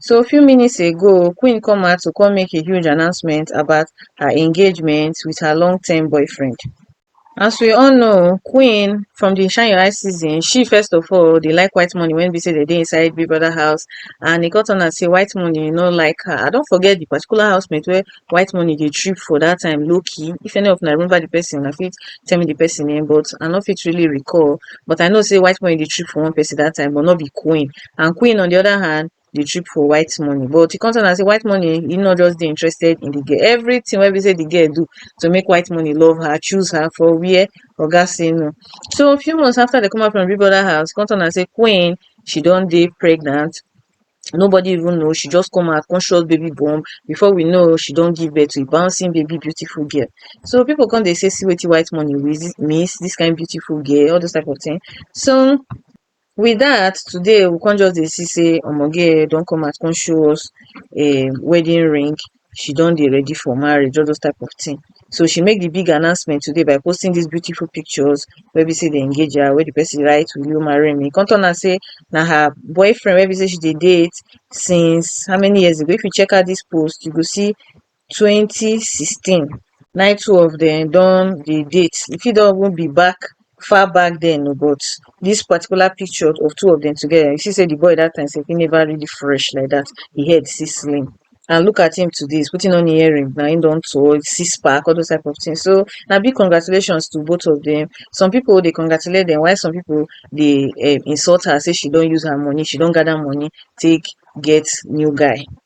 so few minutes ago queen come out to come make a huge announcement about her engagement with her long term boyfriend as we all know queen from the shine your eye season she first of all dey like white money when be say they dey inside big brother house and e come turn out say white money no like her i don forget the particular housemate wey white money dey trip for that time low key if any of una remember the person una fit tell me the person name but i no fit really recall but i know say white money dey trip for one person that time but no be queen and Queen on the other hand dey trip for white money but e come tell am say white money e no just dey interested in the girl everything wey be say the girl do to make white money love her choose her for where oga say no so a few months after they come out from Big Brother house come tell am say Queen she don dey pregnant nobody even know she just come out come shot baby bomb before we know she don give birth to a bouncing baby beautiful girl so people come dey say see wetin white money miss this kind beautiful girl all those type of thing so With dat today we come just dey see sey omo girl don come out come show us um wedding ring, she don dey ready for marriage all those type of thing. So she make de big announcement today by posting dis beautiful pictures wey be sey dem engage her, wey de person write will you marry me? E come turn out sey na her boyfriend wey be sey she dey date since how many years ago. If you check out dis post you go see twenty sixteen nai two of dem don dey date e fit don even be back far back then o but this particular picture of two of dem together you see sey the boy that time self e never really fresh like that e head still slim and look at him today he's putting on earring na him don tall six pack all those type of thing so na big congratulations to both of them some people dey congratulate them while some people dey um insult her sey she don use her money she don gather money take get new guy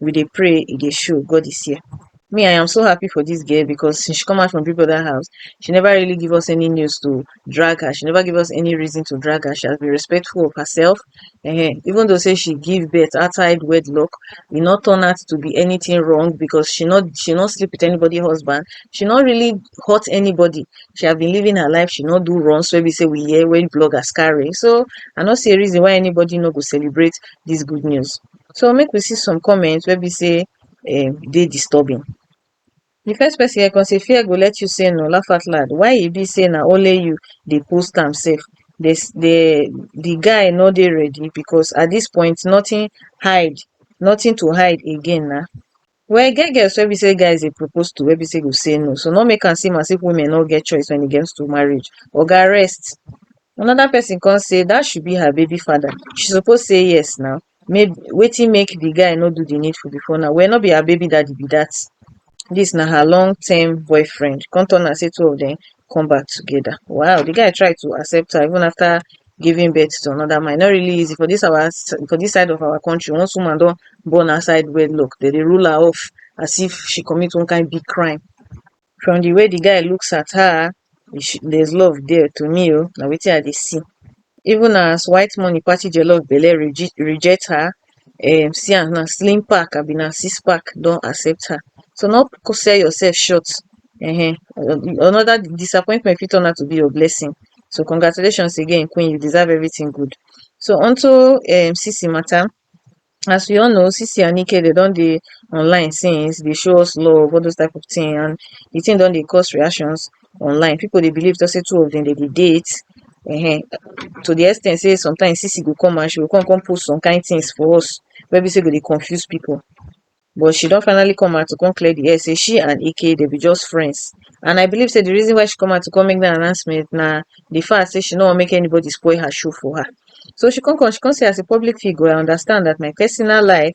we dey pray e dey show god is here me i am so happy for dis girl because since she come out from big brother house she never really give us any news to drag her she never give us any reason to drag her she has been respectful of herself um even though say she give birth outside wedlock e no turn out to be anything wrong because she no she no sleep with anybody husband she no really hurt anybody she have been living her life she no do runs wey be say we hear when bloggers carry so i no see a reason why anybody no go celebrate dis good news so make we see some comment wey be sey um dey disturbing di first person here kon sey fear go let you sey no laugh out loud why e be sey na only you dey post am sef dey dey di guy nor dey ready bikos at dis point notin hide notin to hide again na Well e get girls wey be sey guys dey propose to wey be sey go say no so no make am seem as if women no get choice when it comes to marriage. Oga rest another person come say that should be her baby father she suppose say yes now maybe wetin make the guy no do the needful before now well no be her baby daddy be that this na her long term boyfriend come turn am sey two of them come back together wow the guy try to accept her even after giving birth to another man e no really easy for this our for this side of our country once woman don born outside wedlock they dey rule her off as if she commit one kind big crime from the way the guy looks at her she, there's love there to me oh na wetin i dey see even as white money party jollof belle reject her um see am na slim pack abi na six pack don accept her so no sell yourself short um another disappointment fit turn out to be your blessing so congratulations again queen you deserve everything good so unto um sisi matter as we all know sisi and ike dem don dey online since dey show us love all those type of thing and the thing don dey cause reactions online people dey believe talk say two of them dem dey date um to the ex ten t say sometimes sisi go come and she go come come post some kind things for us wey be say go dey confuse people but she don finally come out to come clear the air say she and Ike dem be just friends and I believe say the reason why she come out to come make that announcement na the fact say she no wan make anybody spoil her show for her so she come come she come say as a public figure I understand that my personal life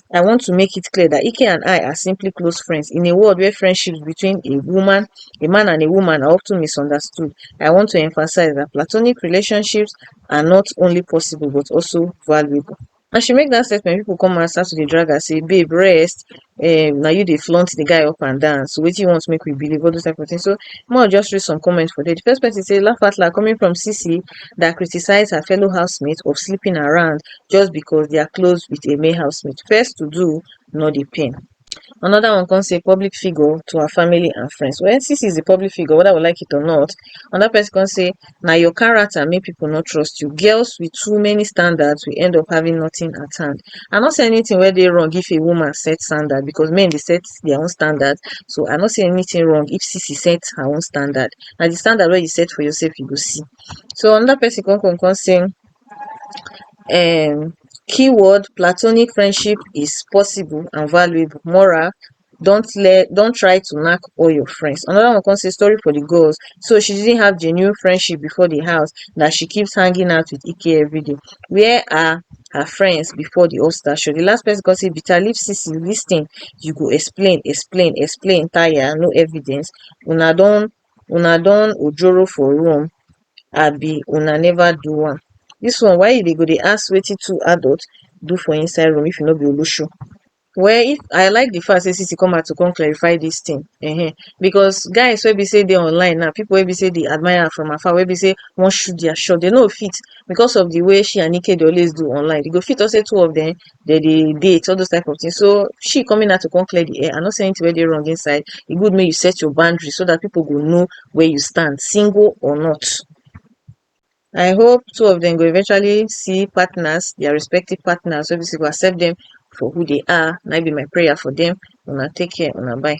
i want to make it clear that ike and i are simply close friends in a world where friendships between a woman a man and a woman are often misunderstood i want to emphasize that platonic relationships are not only possible but also valuable as she make dat statement pipo come and start to dey drag her say babe rest um na you dey flaunt the guy up and down so wetin you want make we believe all those type of things so more just read some comments for there the first person say laugh out loud coming from cc that criticized her fellow housemate of sleeping around just because dia close wit a male housemate first to do no dey pain anoda one come say public figure to her family and friends well sisi is a public figure weda we like it or not anoda pesin come say na your character make pipo no trust you girls wit too many standards will end up having nothing at hand i no see anytin wey dey wrong if a woman set standard because men dey set dia own standard so i no see anytin wrong if sisi set her own standard na di standard wey you set for yourself you go see so anoda pesin come come come say um keyword platonic friendship is possible and valuable mora don tle don try to nack all your friends anoda one kon sey sorry for di gods so she didn't have genuine friendship before di house dat she keeps hanging out with ike everyday where are her friends before di hustler show di last person kon sey bitter leaf sisi listin you go explain explain explain tire no evidence una don una don ojoro for room abi una never do am dis one why you dey go dey ask wetin two adult do for inside room if you no be olosho well if i like the fact sey sisi come out to come clarify dis thing um because guys wey be sey dey online now people wey be sey dey admire am from afar wey be sey wan shoot their shot dey no go fit because of the way she and ike dey always do online dey go fit talk sey two of dem dem dey date all those type of thing so she coming out to come clear the air I no see anything wey dey wrong inside e good make you set your boundary so that people go know where you stand single or not I hope two of them go eventually see partners their respective partners wey be say go accept them for who they are na im be my prayer for them una take care una bye.